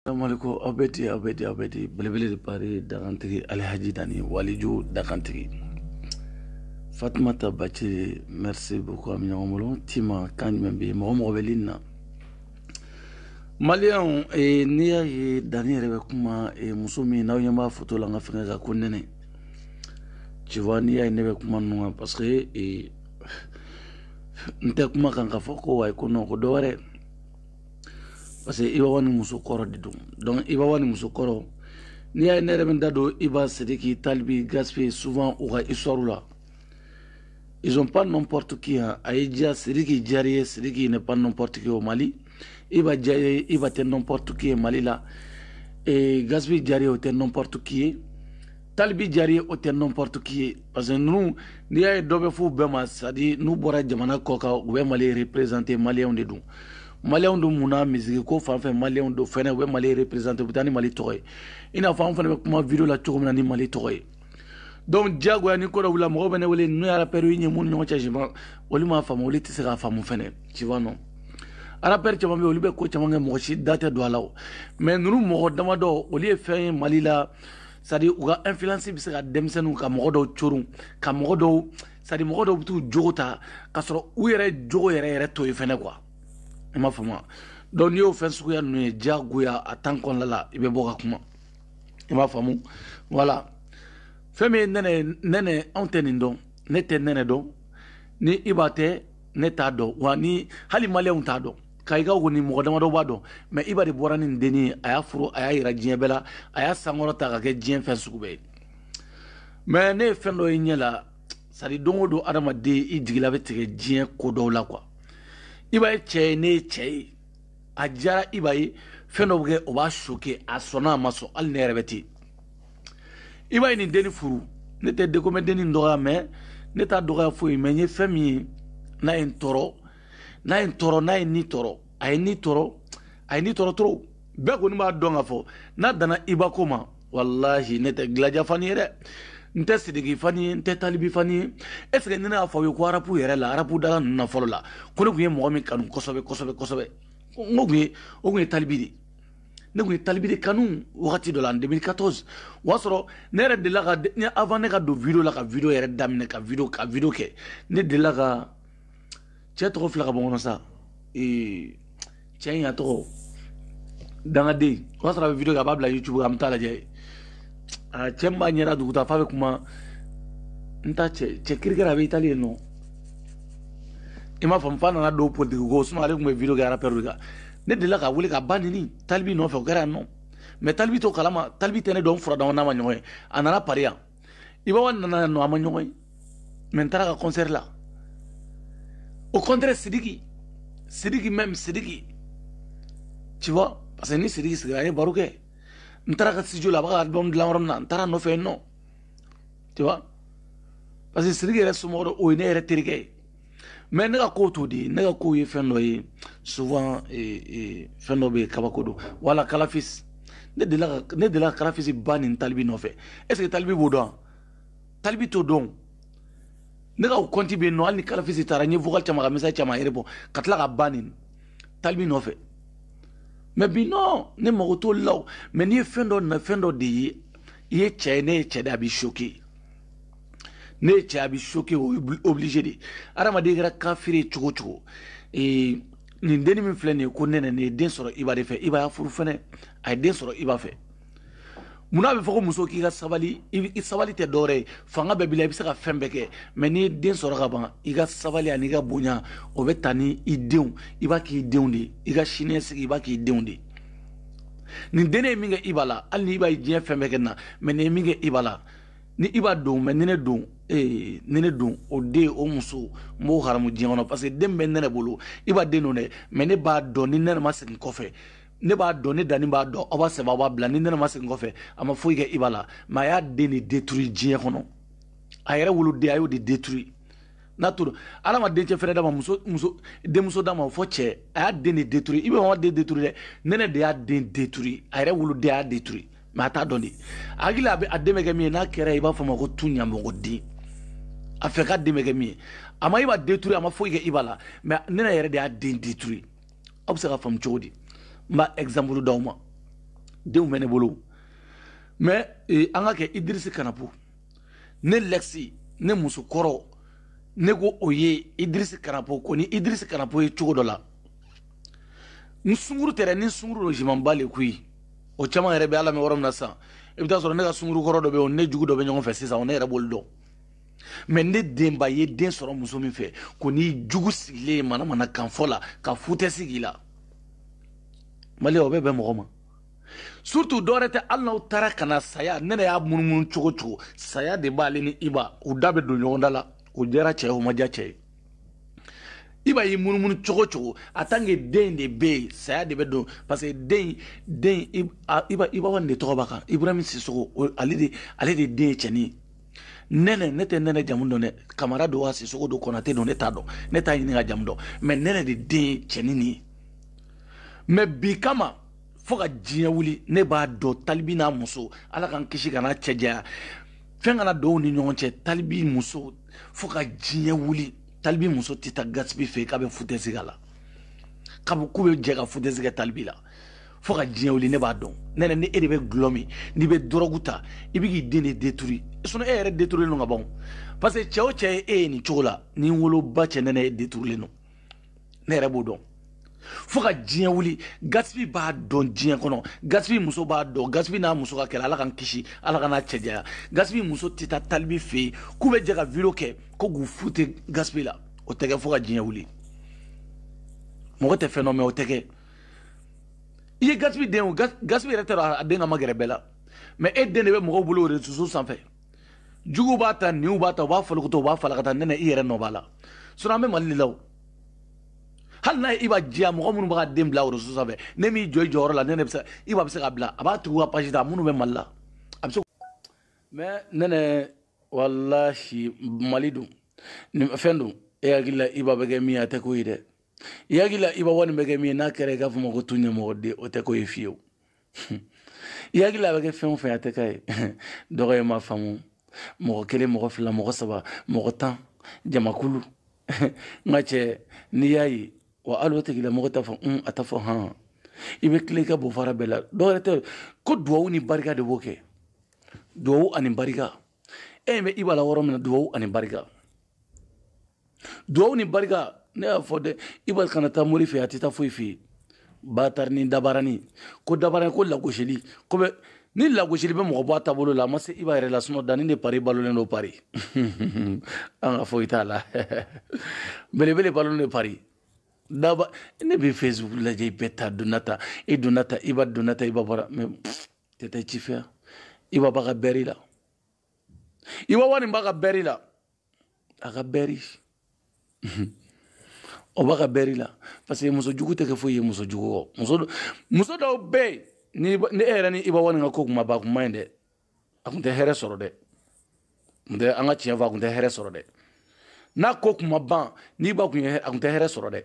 Assalamualaikum aw bɛ di aw bɛ di aw bɛ di belebele de Paris dakantigi alihaji dani waliju dakantigi fatumata bacili merci beaucoup an bɛ ɲɔgɔn bolo tima kan jumɛn bɛ yen mɔgɔ mɔgɔ bɛ ligne na maliyɛnw eh, n'i y'a ye dani yɛrɛ bɛ kuma eh, muso min n'aw ɲɛ b'a foto la n ka fɛnkɛ kan ko nɛnɛ tu vois n'i y'a ye ne bɛ kuma ninnu kan parce que eh, n tɛ kuma kan k'a fɔ ko wayi ko non ko dɔ wɛrɛ parce que iba wani muso kɔrɔ de don donc iba wani muso kɔrɔ n'i y'a ye ne yɛrɛ bɛ n da don iba sidiki talibi gaspi souvent u ka histoire la ils sont pas n'importe qui hein. a ye diya sidiki diyar'i ye sidiki n'est pas n'importe qui au mali iba diyar'i ye iba tɛ n'importe qui ye mali la e gaspi diyar'i ye o tɛ n'importe qui ye talibi diyar'i ye o tɛ n'importe qui ye parce que ninnu n'i y'a ye dɔ bɛ f'u bɛɛ ma c'est-à-dire n'u bɔra jamana kɔ kan u bɛ mali représenter maliyɛnw de don maliyɛnw don mun na musique ko fan fɛ maliyɛnw don fɛnɛ u bɛ mali représenter u bɛ taa ni mali tɔgɔ ye i n'a fɔ an fana bɛ kuma video la cogo min na ni mali tɔgɔ ye donc diyagoya ni ko dɔ wulila mɔgɔ bɛ ne wele n'u y'a rapɛriw ɲɛ minnu ɲɔgɔn cɛ siman olu m'a faamu olu tɛ se k'a faamu fɛnɛ sinon arapɛri caman bɛ olu bɛ ko caman kɛ mɔgɔ si da tɛ don a la o mais ninnu mɔgɔ damadɔ olu ye fɛn ye mali la c'est-à-dire u ka influence bɛ se ka denmisɛnninw ka mɔgɔ dɔw corun ka mɔgɔ dɔw c'est-à-dire mɔgɔ dɔw bɛ t'u jogo ta ka sɔrɔ u yɛrɛ jogo yɛrɛ yɛrɛ to yen fɛnɛ quoi i m'a faamu donc n'i y'o fɛn suguya ninnu ye diyagoya a tan kɔnɔna la i bɛ bɔ ka kuma i m'a faamu voilà fɛn min ye nɛnɛ ye nɛnɛ anw tɛ nin dɔn ne tɛ nɛnɛ dɔn ni iba tɛ ne t'a dɔn wa ni hali maliyɛnw t'a dɔn kayikaw kɔni mɔgɔ damadɔ b'a dɔn mais iba de bɔra ni denni ye a y'a furu a y'a yira diɲɛ bɛɛ la a y'a sankɔrɔta ka kɛ diɲɛ fɛn sugu bɛɛ ye mais ne ye fɛn dɔ ye ɲɛ la c'est-à-dire don o don adamaden i jigila bɛ tigɛ diɲɛ ko dɔw la quoi iba ye cɛ ye ne ye cɛ ye a diyara iba ye fɛn dɔ bɛ kɛ o b'a choquer a sɔnna a ma sɔn hali ne yɛrɛ bɛ ten iba ye nin denni furu ne tɛ de comme denni dɔgɔya mais ne t'a dɔgɔya foyi mais n ye fɛn min ye n'a ye n tɔɔrɔ n'a ye n tɔɔrɔ n'a ye ni tɔɔrɔ a ye ni tɔɔrɔ a ye ni tɔɔrɔ trop bɛɛ kɔni b'a dɔn ka fɔ n'a dana iba ko ma walahi ne tɛ gilaja fani ye dɛ n tɛ sidiki fani ye n tɛ talibi fani ye est ce que ni ne y'a fɔ aw ye ko arapu yɛrɛ la arapu dala ninnu na fɔlɔ la ko ne tun ye mɔgɔ min kanu kosɛbɛ kosɛbɛ kosɛbɛ n ko tun ye o tun ye talibi de ne tun ye talibi de kanu wagati dɔ la en 2014 o y'a sɔrɔ ne yɛrɛ delila ka avant ne ka don video la ka video yɛrɛ daminɛ ka video ka video kɛ ne delila ka cɛ tɔgɔ fila ka bɔ n kɔnɔ sa ee cɛ in a tɔgɔ dangaden o y'a sɔrɔ a bɛ video kɛ a b'a bila youtube an bɛ taa lajɛ a cɛ min b'a ɲɛda dugu ta f'a bɛ kuma n ta cɛ cɛ kirikɛra a bɛ itali yen nɔ i m'a faamu f'a nana don politiki ko sinon ale tun bɛ video kɛ arapɛri de kan ne delila ka wele k'a ba nɛni talibi nɔfɛ o kɛra yan nɔ mɛ talibi t'o kalama talibi tɛ ne dɔn fura dama n'a ma ɲɔgɔn ye a nana pari yan iba one nana yan nɔ an ma ɲɔgɔn ye mɛ n taara a ka kɔnsɛri la au contraire sidiki sidiki même sidiki tu vois parce que ni sidiki sigira an ye baro kɛ n taara a ka studio la a b'a ka album dilan yɔrɔ min na n taara a nɔfɛ yen nɔ tu vois parce que sidiki yɛrɛ somɔgɔ dɔ o ye ne yɛrɛ terikɛ ye mɛ ne ka ko t'o de ne ka ko ye fɛn dɔ ye souvent eh, eh, fɛn dɔ bɛ yen kabako don wala kalafisi ne delila ka ne delila ka kalafisi ba nɛni talibi nɔfɛ est ce que talibi b'o dɔn talibi t'o dɔn ne ka o kɔnti bɛ yen nɔ hali ni kalafisi taara n ye vocal caman ka message caman yɛrɛ bɔ ka tila k'a ba nɛni talibi nɔfɛ mɛ bi nɔ ne mago t'olu la o mɛ n'i ye fɛn dɔ na fɛn dɔ de ye i ye cɛ ye ne ye cɛ de a b'i choquer ne ye cɛ ye a b'i choquer obligé de adamaden kɛra kafiri ye cogo cogo ee nin denni min filɛ nin ye ko nɛnɛ nin ye den sɔrɔ iba de fɛ iba y'a furu fɛnɛ a ye den sɔrɔ iba fɛ mun n'a bɛ fɔ ko muso k'i ka sabali i sabali tɛ dɔwɛrɛ ye fanga bɛɛ b'i la i bɛ se ka fɛn bɛɛ kɛ mɛ n'i ye den sɔrɔ ka ban i ka sabali ani i ka bonya o bɛ taa ni i denw i b'a k'i denw de ye i ka siniɲɛsigi i b'a k'i denw de ye nin dennen ye min kɛ iba la hali ni iba ye diɲɛ fɛn bɛɛ kɛ na mɛ nin ye min kɛ iba la ni iba don mɛ ni ne don ee ni ne don o den o muso n b'o haramu diɲɛ kɔnɔ parce que den bɛ nɛnɛ bolo iba den don dɛ mɛ ne b'a dɔn ni nɛnɛ ma segin kɔfɛ ne b'a dɔn ne danni b'a dɔn aw b'a sɛbɛn aw b'a bila ni nɛnɛ ma segin kɔfɛ a ma foyi kɛ iba la mɛ a y'a den de détruire diɲɛ kɔnɔ a yɛrɛ woloden a y'o de détruire n'a tora ala ma dencɛ fɛnɛ d'a ma muso muso denmuso d'a ma fo cɛ a y'a den de détruire iba m'a den détruire dɛ nɛnɛ de y'a den détruire a yɛrɛ woloden a y'a détruire mɛ a t'a dɔn dɛ a hakili a bɛ a dɛmɛ kɛ min ye n'a kɛra i b'a fɔ ma ko tu ɲamɔgɔden a fɛ ka dɛmɛ kɛ min ye a ma iba détruire a ma foyi kɛ iba la mɛ nɛnɛ yɛrɛ de y'a den détruire aw bɛ se ka faamu cogo di n b'a exemple d'aw ma denw bɛ ne bolo mɛ eh, an ka kɛ idirisi kanapo ne lɛkisi ne muso kɔrɔ ne ko o ye idirisi kanapo ko ni idirisi kanapo ye cogo dɔ la n sunkuru tɛrɛ ni sunkuru don je m'en bats les couilles o caman yɛrɛ bɛ a la mɛ yɔrɔ min na sisan i bɛ taa sɔrɔ ne ka sunkuru kɔrɔ dɔ bɛ yen ne jugu dɔ bɛ ɲɔgɔn fɛ sisan ne yɛrɛ b'olu dɔn mɛ ne denba ye den sɔrɔ muso min fɛ k'o n'i jugu sigilen ye manamanakan fɔ la ka foutaise k'i la mali o bɛ bɛn mɔgɔ ma surtout dɔwɛrɛ tɛ hali n'aw taara ka na saya nɛnɛ y'a munumunu cogo cogo saya de b'ale ni iba u da bɛ don ɲɔgɔn da la o diyara cɛ ye o ma diya cɛ ye iba y'i munumunu cogo cogo en tant que den de bɛ yen saya de bɛ don parce que den den iba iba wani de tɔgɔ b'a kan ibrahim sisogo ale de ale de den ye cɛnin ye nɛnɛ ne tɛ nɛnɛ jamu dɔn dɛ kamara don wa sisogo don kɔnate don ne t'a dɔn ne t'a ɲini ka jamu dɔn mɛ nɛnɛ de den ye cɛnin nin ye mɛ bi kama fo ka diɲɛ wuli ne b'a dɔn talibi n'a muso ala k'an kisi kana cɛ janya fɛn kana don u ni ɲɔgɔn cɛ talibi muso fo ka diɲɛ wuli talibi muso tɛ taa gaspi fɛ k'a bɛ futɛsi k'a la k'a bɛ k'u bɛ jɛ ka futɛsi kɛ talibi la fo ka diɲɛ wuli ne b'a dɔn nɛnɛ ni e de bɛ gulɔ min n'i bɛ dɔrɔgu ta i bɛ k'i den de deturi sinɔn e yɛrɛ deturilen don ka ban parce que cɛ o cɛ ye e ye nin cogo la n'i woloba cɛ nɛnɛ e deturilen don ne yɛrɛ b'o dɔn fo ka diɲɛ wuli gaspi b'a dɔn diɲɛ kɔnɔ gaspi muso b'a dɔn gaspi n'a muso ka kɛlɛ ala k'an kisi ala kana cɛ janya gaspi muso tɛ taa talibi fɛ yen k'u bɛ jɛ ka video kɛ ko k'u fute gaspi la o tɛ kɛ fo ka diɲɛ wuli mɔgɔ tɛ fɛn dɔn mɛ o tɛ kɛ i ye gaspi den o gaspi yɛrɛ tɛ sɔn a den ka magɛrɛ bɛɛ la mɛ e den de bɛ mɔgɔw bolo réseaux sociaux sanfɛ juguw b'a ta ɲinw b'a ta u b'a fɔlɔkɔtɔ u b'a falakata nɛnɛ i yɛrɛ nɔ b'a la sinɔn an bɛ mali de la o hali n'a ye iba diya mɔgɔ minnu b'a den bila réseaux sanfɛ n'e m'i jɔ i jɔyɔrɔ la nɛnɛ bɛ se iba bɛ se ka bila a b'a tugu ka page ta minnu bɛ mali la a bɛ se mɛ nɛnɛ walahi mali don nin fɛn don e hakili la iba bɛ kɛ min ye a tɛ ko ye dɛ i hakili la iba wani bɛ kɛ min ye n'a kɛra i k'a fɔ ma ko tu ɲɛmɔgɔ den o tɛ ko ye fiyewu i hakili la a bɛ kɛ fɛn o fɛn a tɛ ko ye dɔgɔ ye ma faamu mɔgɔ kelen mɔgɔ fila mɔgɔ saba mɔgɔ tan jamakulu n ka cɛ n'i y'a ye wa hali o tigilamɔgɔ t'a fɔ un a t'a fɔ han i bɛ tile i ka bofara bɛɛ la dɔwɛrɛ tɛ ko duwawu ni barika de b'o kɛ duwawu ani barika e ɲɛ bɛ iba la yɔrɔ min na duwawu ani barika duwawu ni barika ne y'a fɔ dɛ iba kana taa mori fɛ a tɛ taa foyi fɛ yen batarani dabarani ko dabarani ko lagosili ko bɛ ni lagosili bɛ mɔgɔ bɔ a taabolo la a ma se iba yɛrɛ la sinɔ danni de pari balolen don pari an ka foyi t'a la belebele balolen don pari daba ne bɛ facebook lajɛ i bɛɛ ta donna ta i donna ta iba donna ta iba bɔra mɛ tɛ taa ci fɛ iba b'a ka bɛri la iba wani b'a ka bɛri la a ka bɛri o b'a ka bɛri la parce que muso jugu tɛ kɛ foyi ye muso jugu kɔ muso muso dɔw bɛ yen ni e yɛrɛ ni iba wani ka ko kuma ba kuma ye dɛ a kun tɛ hɛrɛ sɔrɔ dɛ kun tɛ an ka tiɲɛ fɔ a kun tɛ hɛrɛ sɔrɔ dɛ n'a ko kuma ban n'i ba kun ye a kun tɛ hɛrɛ sɔrɔ dɛ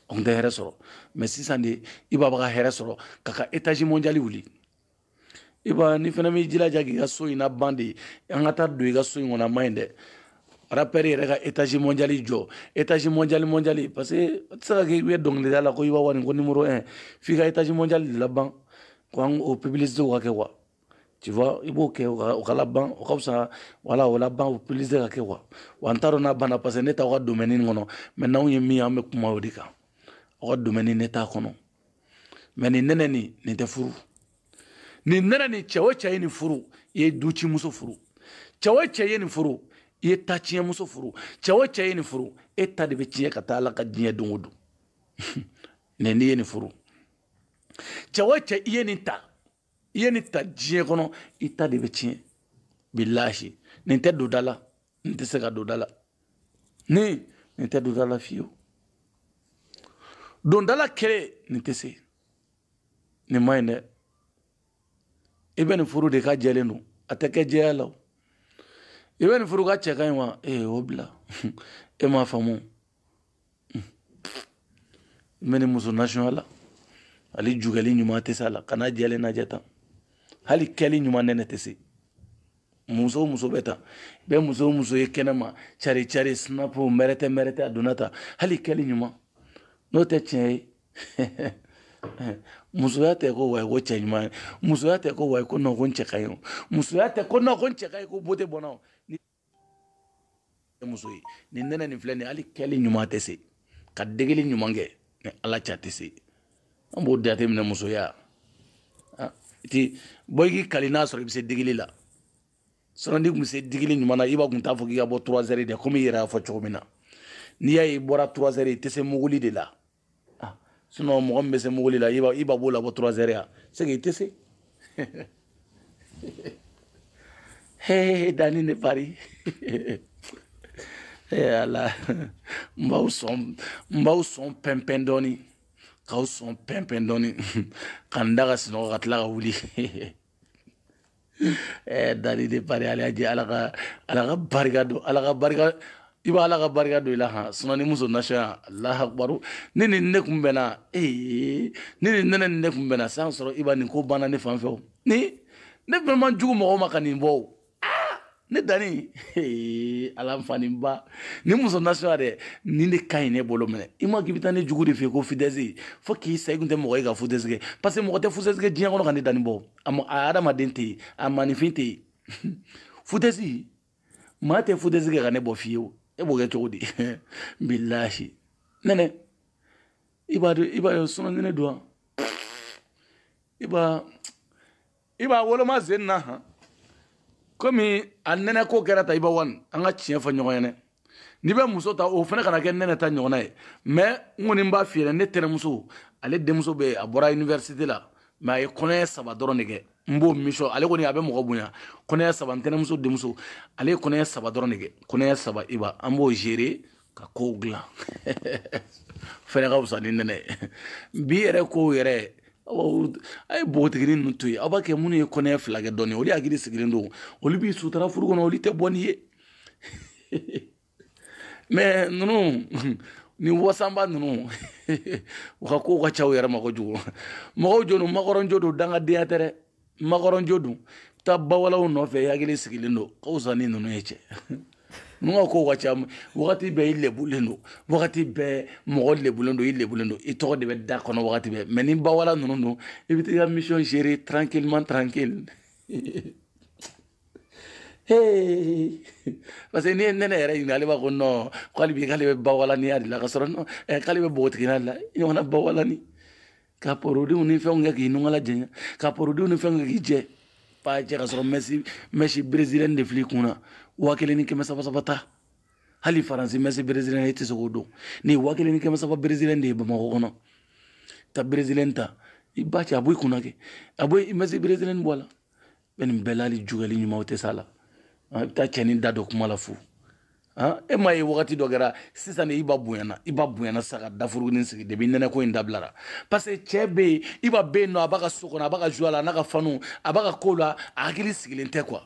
o tun tɛ hɛrɛ sɔrɔ mɛ sisan de iba bɛ ka hɛrɛ sɔrɔ k'a ka etazi mɔndiyali wuli iba ni fana b'i jilaja k'i ka so in na ban de an ka taa don i ka so in kɔnɔ a ma ɲi dɛ rapɛri yɛrɛ ka etazi mɔndiyali jɔ etazi mɔndiyali mɔndiyali parce que a tɛ se ka kɛ i bɛ dɔnkilida la ko iba wani ko nimoro un f'i ka etazi mɔndiyali de laban ko an o pibilisitew ka kɛ quoi tu vois i b'o kɛ o ka laban o ka fisa wala o laban o pibilisite ka kɛ quoi wa n t'a dɔn n'a banna parce que ne t'aw ka domɛni nin kɔnɔ mɛ n'anw ye min ye an bɛ kuma o de kan aw ka domɛni ne t'a kɔnɔ mɛ nin nɛnɛ nin nin tɛ furu nin nɛnɛ nin cɛ o cɛ ye nin furu i ye ducimuso furu cɛ o cɛ ye nin furu i ye tatiɲɛmuso furu cɛ o cɛ ye nin furu e ta de bɛ tiɲɛ ka taa ala ka diɲɛ don o don nin n'i ye nin furu cɛ o cɛ i ye nin ta i ye nin ta diɲɛ kɔnɔ i ta de bɛ tiɲɛ bilahi nin tɛ don da la nin tɛ se ka don da la ni nin tɛ don da la fiyewu don da la kɛlɛ nin tɛ se nin man ɲi dɛ i bɛ nin furu de k'a jɛlen don a tɛ kɛ jɛya la o i bɛ nin furu k'a cɛ ka ɲi wa ee o bila e m'a faamu n bɛ nin muso nasɔnya la hali jugɛli ɲuman tɛ se a la kan'a jɛlen lajɛ tan hali kɛli ɲuman nɛnɛ tɛ se muso o muso bɛ tan bɛɛ muso o muso ye kɛnɛma cari cari sinapu mɛrɛtɛ mɛrɛtɛ a donna tan hali kɛli ɲuman n'o tɛ tiɲɛ ye musoya tɛ ko wayi ko cɛ ɲuman ye musoya tɛ ko wayi ko nɔn ko n cɛ ka ɲi o musoya tɛ ko nɔn ko n cɛ ka ɲi ko bote bɛ n na o muso ye nin nɛnɛ nin filɛ nin hali kɛli ɲuman a tɛ se ka degeli ɲuman kɛ ni ala ca tɛ se an b'o date minɛ musoya ti bɔ i k'i kali n'a sɔrɔ i bɛ se degeli la sinɔn n'i tun bɛ se degeli ɲuman na iba kun t'a fɔ k'i ka bɔ trois heures de komi i yɛrɛ y'a fɔ cogo min na n'i y'a ye i bɔra trois heures i tɛ se muguli de la ah, sinon mɔgɔ min bɛ se muguli la iba b'o labɔ trois heures ya c'est que i tɛ se he dani ne pari e ala n b'aw sɔn n b'aw sɔn pɛnpɛn dɔɔni k'aw sɔn pɛnpɛn dɔɔni ka n da ka sinɔgɔ ka tila ka wuli Dani ne pari ala jɛ ala ka ala ka barika don ala ka barika iba ala ka barika don i la han sinɔn nin muso nasɔnya allahu akbar ni ni ne tun bɛna ee ni nin nɛnɛ nin ne tun bɛna san sɔrɔ iba nin ko banna ne fanfɛ ni ne fɛnɛ man jugu mɔgɔ ma ka nin bɔ ne dani ala n fani ba ni muso nasuya dɛ nin de ka ɲi ne bolo minɛ i ma k'i bɛ taa ne jugu de fɛ ko foutaise fo k'i sa i kun tɛ mɔgɔ ye ka foutaise kɛ parce que mɔgɔ tɛ foutaise kɛ diɲɛ kɔnɔ ka ne dani bɔ a mɔ a adamaden tɛ yen a maaninfin tɛ yen foutaise maa tɛ foutaise kɛ ka ne bɔ fiyewu e b'o kɛ cogo di bilahi nɛnɛ i b'a dɔn i b'a ye sinon ne don wa i b'a i b'a woloma zen na han komi a nɛnɛ ko kɛra ta iba one an ka tiɲɛ fɔ ɲɔgɔn ɲɛna n'i bɛ muso ta o fana kana kɛ nɛnɛ ta ɲɔgɔnna ye mais n kɔni n b'a f'i ɲɛna ne tɛnɛmuso ale denmuso bɛ yen a bɔra université la mais a ye kɔnɔɲɛ saba dɔrɔn de kɛ n b'o mission ale kɔni a bɛ mɔgɔ bonya kɔnɔɲɛ saba n tɛnɛmuso denmuso ale ye kɔnɔɲɛ saba dɔrɔn de kɛ kɔnɔɲɛ saba iba an b'o gérer ka kow dilan fɛnɛ ka fisa ni nɛnɛ ye bi yɛrɛ kow yɛrɛ a ye npogotigini ninnu to yen aw b'a kɛ minnu ye kɔnɔɲɛ fila kɛ dɔɔni olu hakili sigilen don olu b'i sutura furu kɔnɔ olu tɛ bɔ n'i ye mais ninnu ni wasanba ninnu u ka kow ka ca u yɛrɛ ma kojugu mɔgɔw jo don makɔrɔnjo don dangadenya tɛ dɛ makɔrɔnjo don taa bawalaw nɔfɛ hakili sigilen don ka fisa ni ninnu ye cɛ ninnu ka kow ka ca wagati bɛɛ i lebulen don wagati bɛɛ mɔgɔ lebulen don i lebulen don i tɔgɔ de bɛ da kɔnɔ wagati bɛɛ mais ni bawala ninnu don i bɛ t'i ka mission gérer tranquillement tranquille hey parce que n'i ye nɛnɛ yɛrɛ ɲininka ale b'a ko non k'ale bi k'ale bɛ bawalaniya de la ka sɔrɔ non k'ale bɛ npogotigiya de la ɲɔgɔnna bawalani ka produits ni fɛnw kɛ k'i nunkala jɛɲɛ ka produits ni fɛnw kɛ k'i jɛ paa jɛ ka sɔrɔ mèche mèche brésilienne de filɛ i kun na waa kelen ni kɛmɛ saba saba ta hali faransi mèche brésilienne e tɛ se k'o dɔn ni waa kelen ni kɛmɛ saba brésilienne de ye bamakɔ kɔnɔ ta brésilienne ta iba cɛ a bɔ i kun na kɛ a bɔ i mèche brésilienne bɔ a la bɛ nin bɛɛ la hali jukɛli ɲuman o tɛ s'a la i bɛ taa cɛnin da don kuma la fu e m'a ye wagati dɔ kɛra sisan iba bonyana iba bonyana sa ka dafurugunin sigi depuis nɛnɛ ko in dabilara parce que cɛ bɛ yen iba bɛ yen nɔ a b'a ka so kɔnɔ a b'a ka joie la a n'a ka fans a b'a ka ko la a hakili sigilen tɛ quoi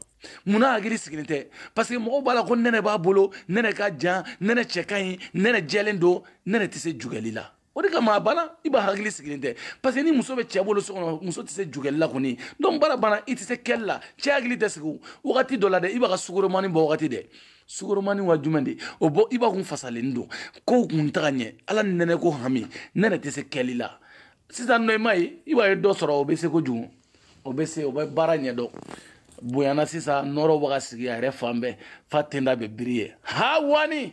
munna hakili sigilen tɛ parce que mɔgɔw b'a la ko nɛnɛ b'a bolo nɛnɛ ka jan nɛnɛ cɛ ka ɲi nɛnɛ jɛlen don nɛnɛ tɛ se jukɛli la o de kama a banna iba hakili sigilen tɛ parce que ni muso bɛ cɛ bolo so kɔnɔ muso tɛ se jukɛli la kɔni donc baara banna i tɛ se kɛli la cɛ hakili tɛ sigi wagati dɔ la dɛ iba ka sukoromani bɔ wagati dɛ sukoromani wa jumɛn de o bɔ iba kun fasalen don kow kun tɛ ka ɲɛ ala ni nɛnɛ ko hami nɛnɛ tɛ se kɛli la sisan nɔ i m'a ye iba ye dɔ sɔrɔ o bɛ se kojugu o bɛ se o bɛ baara ɲɛdɔn bonyana sisan nɔrɔ bɛ ka sigi a yɛrɛ fan bɛɛ fa tenda bɛ briller ha one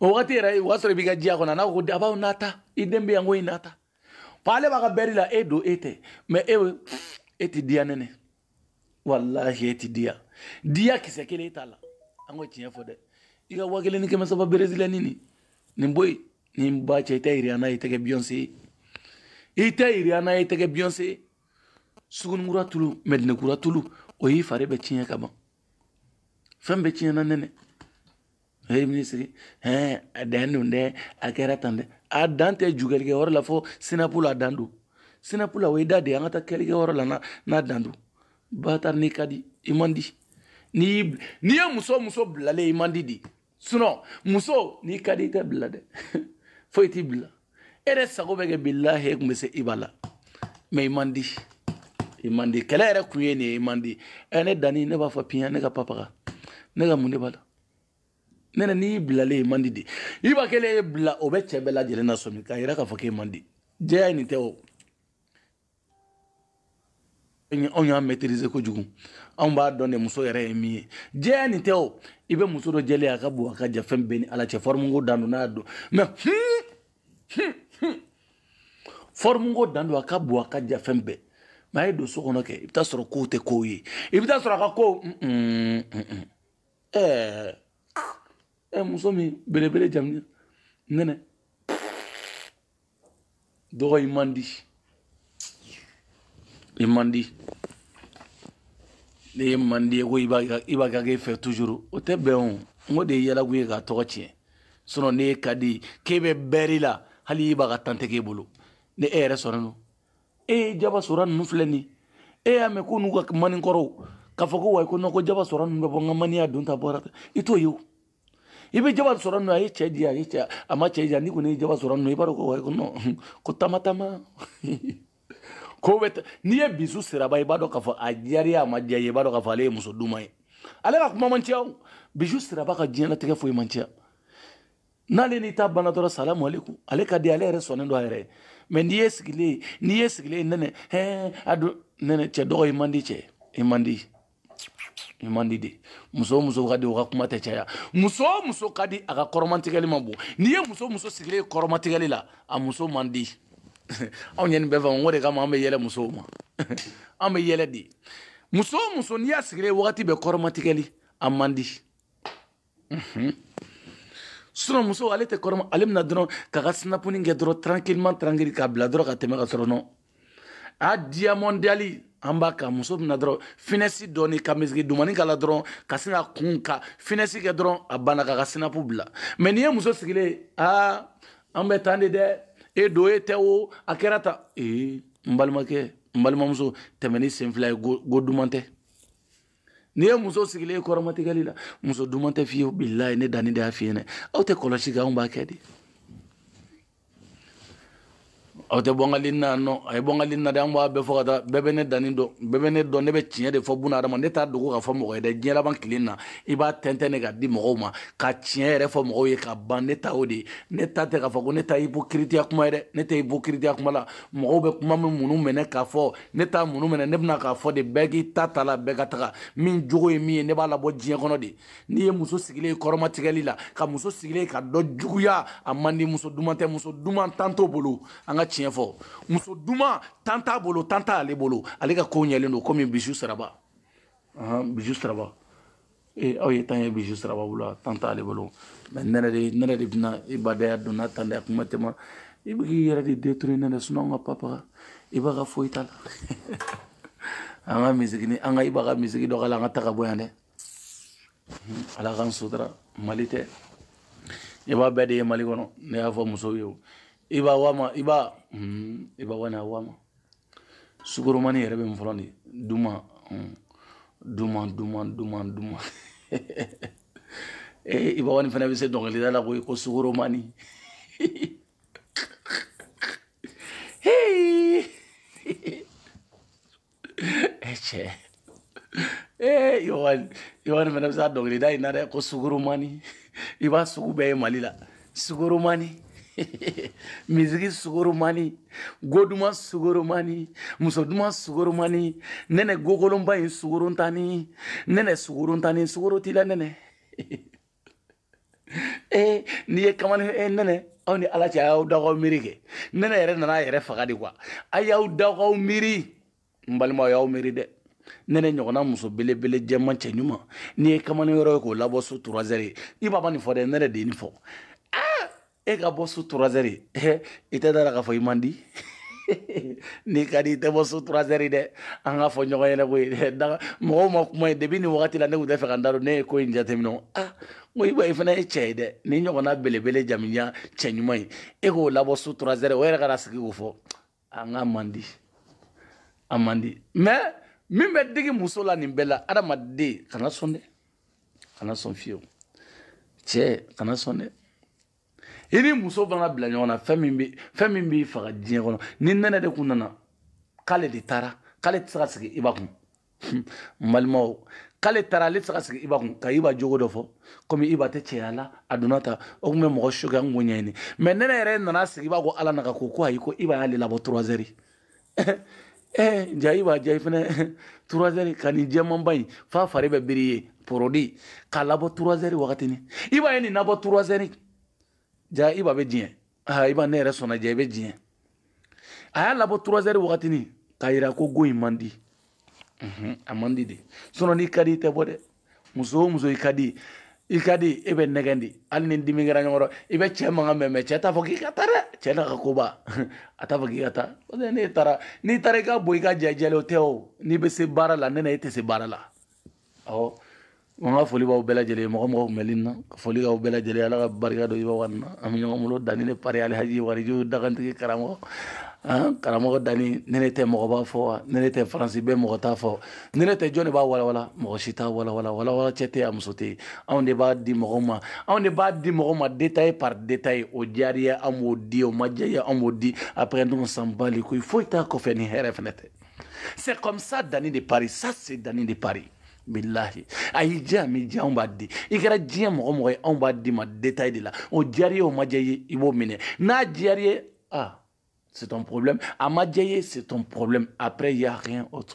o wagati yɛrɛ o y'a sɔrɔ i b'i ka diya kɔnɔ n'a ko dabaw n'a ta i den bɛ yan ko i n'a ta ko ale b'a ka bɛri la e don e tɛ mɛ e e tɛ diya nɛnɛ walahi e tɛ diya diya kisɛ kelen e t'a la an ko tiɲɛ fɔ dɛ i ka wa kelen ni kɛmɛ saba brésilien nin nin bɔ yen nin ba cɛ i tɛ rihanna ye i tɛ kɛ beyoncé ye i tɛ rihanna ye i tɛ kɛ beyoncé ye sugunikura tulu mɛdinakura tulu o y'i fari bɛɛ tiɲɛ ka ban fɛn bɛɛ tiɲɛna nɛnɛ ye minisiri hɛn a dan don dɛ a kɛra tan dɛ a dan tɛ jukɛlikɛ yɔrɔ la fo sinapu la a dan don sinapu la o ye da de ye an ka taa kɛlikɛ yɔrɔ la n'a n'a dan don batari n'i ka di i man di n'i n'i ye muso muso bilalen i man di de sinɔn muso n'i ka di i tɛ bila dɛ foyi t'i bila e yɛrɛ sago bɛ kɛ bilahi e tun bɛ se i b'a la mɛ i man di i man di kɛlɛ yɛrɛ kun ye nin ye i man di ɛ ne danni ne b'a fɔ piyan ne ka papa ne ka mun de b'a la nɛnɛ n'i y'i bilalen ye i man di de i ba kelen y'i bila o bɛ cɛ bɛɛ lajɛlen lasɔmi k'a yira k'a fɔ k'e man di jɛya ye nin tɛ o anw y'a maîtriser kojugu anw b'a dɔn de muso yɛrɛ ye min ye jɛya nin tɛ o i bɛ muso dɔ jɛlen a ka bon a ka jan fɛn bɛɛ ni ala cɛ forme ko dan don n'a don mɛ hmm, hmm, hmm. forme ko dan don a ka bon a ka jan fɛn bɛɛ mɛ a ye don so kɔnɔ kɛ i bɛ taa sɔrɔ kow tɛ kow ye i bɛ taa sɔrɔ a ka ko ɛɛ ɛ muso min belebele jamu nɛnɛ dɔgɔ i man di i man di n'e man di ko i b'a kɛ k'e fɛ toujours o tɛ bɛn o n ko de ye yɛlɛko ye k'a tɔgɔ tiɲɛ sinɔn n'e ka di k'e bɛ bɛri la hali i b'a ka tan tɛ k'e bolo ni e yɛrɛ sɔnnen don e ye jaba sora ninnu filɛ nin e y'a mɛn ko n'u kamalen kɔrɔw k'a fɔ ko wayi ko nɔn ko jaba sora ninnu bɛ bɔ n ka maniya don ta bɔra i t'o ye o i bɛ jaba sora ninnu a ye cɛ di a ye cɛ a ma cɛ di a n'i kɔni ye jaba sora ninnu i b'a dɔn ko wayi ko nɔn ko taama taama ko bɛ n'i ye bijou siraba i b'a dɔn k'a fɔ a diyara i ye a ma diya i ye i b'a dɔn k'a fɔ ale ye muso duman ye ale ka kuma man ca o bijou siraba ka diɲɛlatigɛ fɔ man ca n'ale n'i ta banna dɔrɔn salamu aleykum ale ka di ale yɛrɛ sɔnnen don a yɛrɛ ye mɛ n'i ye sigilen ye n'i ye sigilen ye nɛnɛ hɛn a don nɛnɛ cɛ dɔ ko i man di cɛ i man di i man di de muso o muso ka di o ka kuma tɛ caya muso o muso ka di a ka kɔrɔmatigɛli ma bon n'i ye muso o muso sigilen ye kɔrɔmatigɛli la a muso man di anw ye nin bɛɛ faamu o de kama an bɛ yɛlɛ musow ma an bɛ yɛlɛ de muso o muso n'i y'a sigilen ye wagati bɛɛ kɔrɔmatigɛli a man di sinɔn muso ale tɛ kɔrɔma ale bɛna dɔrɔn k'a ka sinapuni kɛ dɔrɔn tranquillement tranquille k'a bila dɔrɔn ka tɛmɛ ka sɔrɔ nɔ a diamond dali an b'a ka muso bɛna dɔrɔn finɛsi dɔɔni ka misiki dumani k'a la dɔrɔn ka sin ka kun ka finɛsi kɛ dɔrɔn a banna k'a ka sinapu bila mɛ n'i ye muso sigilen ye aa an bɛ tan de dɛ e don e tɛ o a kɛra ta ee n balimakɛ n balimamuso tɛmɛ n'i sen fila ye go duman tɛ n'i ye muso sigilen ye kɔrɔmatigɛli la muso duman tɛ fiyewu bilayi ne danni de y'a f'i ɲɛna aw tɛ kɔlɔsi kɛ anw b'a kɛ de aw tɛ bɔnkali na nɔ a ye bɔnkali na de an b'a bɛɛ fɔ ka taa bɛɛ bɛ ne danni dɔn bɛɛ bɛ ne dɔn ne bɛ tiɲɛ de fɔ buna hadama ne t'a dogo k'a fɔ mɔgɔ ye dɛ diɲɛ laban tile na i b'a tɛntɛn de ka di mɔgɔw ma ka tiɲɛ yɛrɛ fɔ mɔgɔw ye ka ban ne ta o de ye ne ta tɛ k'a fɔ ko ne ta ye ipokiritiya kuma ye dɛ ne tɛ ipokiritiya kuma la mɔgɔw bɛ kuma min munu minɛ k'a fɔ ne t'a munu minɛ ne bɛ na k'a fɔ de bɛɛ k'i ta ta la bɛɛ ka taga min jogo ye min ye ne b'a labɔ diɲɛ kɔnɔ de n'i ye muso sigilen ye kɔrɔmatigɛli la ka muso sigilen ka dɔ juguya a man di muso duman tɛ muso duman tan t'o bolo an ka tiɲɛ fɔ muso duman tan t'a bolo tan t'ale bolo ale ka kow ɲɛlen don komi bisu saraba bisu saraba ee aw ye tan ye bisu saraba bolo tan t'ale bolo mɛ nɛnɛ de bɛna i badaya don n'a tan dɛ kuma tɛ i bɛ k'i yɛrɛ de détruire nɛnɛ sinɔn an ka papa iba ka foyi t'a la an ka misiki an ka iba ka misiki dɔ k'a la an ka taga bɔ yan dɛ ala k'an sutura mali tɛ i b'a bɛɛ de ye mali kɔnɔ ne y'a fɔ musow ye iba wa iba iba wa wa sugoromani yɛrɛ bɛ min fɔlɔ de duman duman duman duman duman ee eh, ibawani fana bɛ se dɔnkilida la koyi ko sugoromani cɛ ee ibawani ibawani fana bɛ se a dɔnkilida in na dɛ ko sugoromani i b'a sugu bɛɛ ye mali la sugoromani misiki sugoromani go duman sugoromani muso duman sugoromani nɛnɛ gokolonba in sugorontani nɛnɛ sugorontani sugoro t'i la nɛnɛ ee n'i ye kamalen ee nɛnɛ aw ni ala cɛ a y'aw da k'aw miiri kɛ nɛnɛ yɛrɛ nana a yɛrɛ faga de kuwa a y'aw da k'aw miiri n balimaw y'aw miiri dɛ nɛnɛ ɲɔgɔnna muso belebele jɛman cɛɲuman n'i ye kamalen yɔrɔ ye k'o labɔ su turazɛri iba ma nin fɔ dɛ nɛnɛ de ye nin fɔ e ka bɔ su turazɛri i tɛ d'a la k'a fɔ i man di n'i ka di i tɛ bɔ su turazɛri dɛ an k'a fɔ ɲɔgɔn ɲɛna koyi mɔgɔw ma kuma ye depi nin wagati la ne tun t'a fɛ ka n da don ne ye ko in jateminɛ ah ko i i fana ye cɛ ye dɛ nin ɲɔgɔnna belebele jamanjan cɛɲuman ye e k'o labɔ su turazɛri o yɛrɛ ka sigi k'o fɔ an ka man di a man di mais min bɛ digi muso la nin bɛɛ la adamaden kana sɔn dɛ kana sɔn fiyewu cɛ kana sɔn dɛ i ni muso mana bila ɲɔgɔn na fɛn min bɛ fɛn min b'i faga diɲɛ kɔnɔ ni nɛnɛ de kun nana k'ale de taara k'ale tɛ se ka sigi iba kun n balimaw k'ale taara ale tɛ se ka sigi iba kun ka iba jogo dɔ fɔ komi iba tɛ cɛya la a donna ta o tun bɛ mɔgɔ choquer an k'o ɲɛɲini mais nɛnɛ yɛrɛ nana sigi iba ko ala naga ko ko ayi ko iba y'ale labɔ trois heures eh, ja iba ja i fɛnɛ trois heures ka nin jɛmanba in f'a fari bɛɛ biri ye produit k'a labɔ trois heures wagatini iba ye nin labɔ trois heures ja iba bɛ diɲɛ iba ne yɛrɛ sɔnna ja i bɛ diɲɛ a y'a labɔ trois heures wagatini k'a yira ko go in man di a man di dɛ sinon n'i ka di i tɛ bɔ dɛ muso o muso i ka di i ka di e bɛ nɛgɛn dɛ hali ni dimi kɛra ɲɔgɔn i bɛ cɛ mankan mɛn mais cɛ t'a fɔ k'i ka taa dɛ cɛ n'a ka koba a t'a fɔ k'i ka taa parce que n'e taara n'i taara i ka bɔ i ka jajɛlen o tɛ o n'i bɛ se baara la nɛnɛ e tɛ se baara la ɔ n ka foli b'aw bɛɛ lajɛlen ye mɔgɔ mɔgɔ kun bɛ ligne na ka foli k'aw bɛɛ lajɛlen ala ka barika don iba one na an bɛ ɲɔgɔn bolo dani de paris alhaji warijo dagantigi karamɔgɔ karamɔgɔ dani ni ne tɛ mɔgɔ b'a fɔ wa ni ne tɛ faransi bɛɛ mɔgɔ t'a fɔ ni ne tɛ jɔn de b'a walawala mɔgɔ si t'a walawala walawala cɛ tɛ a muso tɛ yen anw de b'a di mɔgɔ ma anw de b'a di mɔgɔ ma détail par détail o diyar'i ye an b'o di o ma diya i ye an b'o di après on s'en bat les couilles foyi t'a kɔfɛ ni hɛrɛ fana tɛ c'est comme ça dani de paris ça c'est dani de paris bilahi a y'i diya a m'i diya anw b'a di i kɛra diɲɛ mɔgɔ mɔgɔ ye anw b'a d'i ma détail de la o diyar'i ye o ma diya i ye i b'o minɛ n'a diyar'i ye ah c'est ton problème a ma diya i ye c'est ton problème après il y a rien autre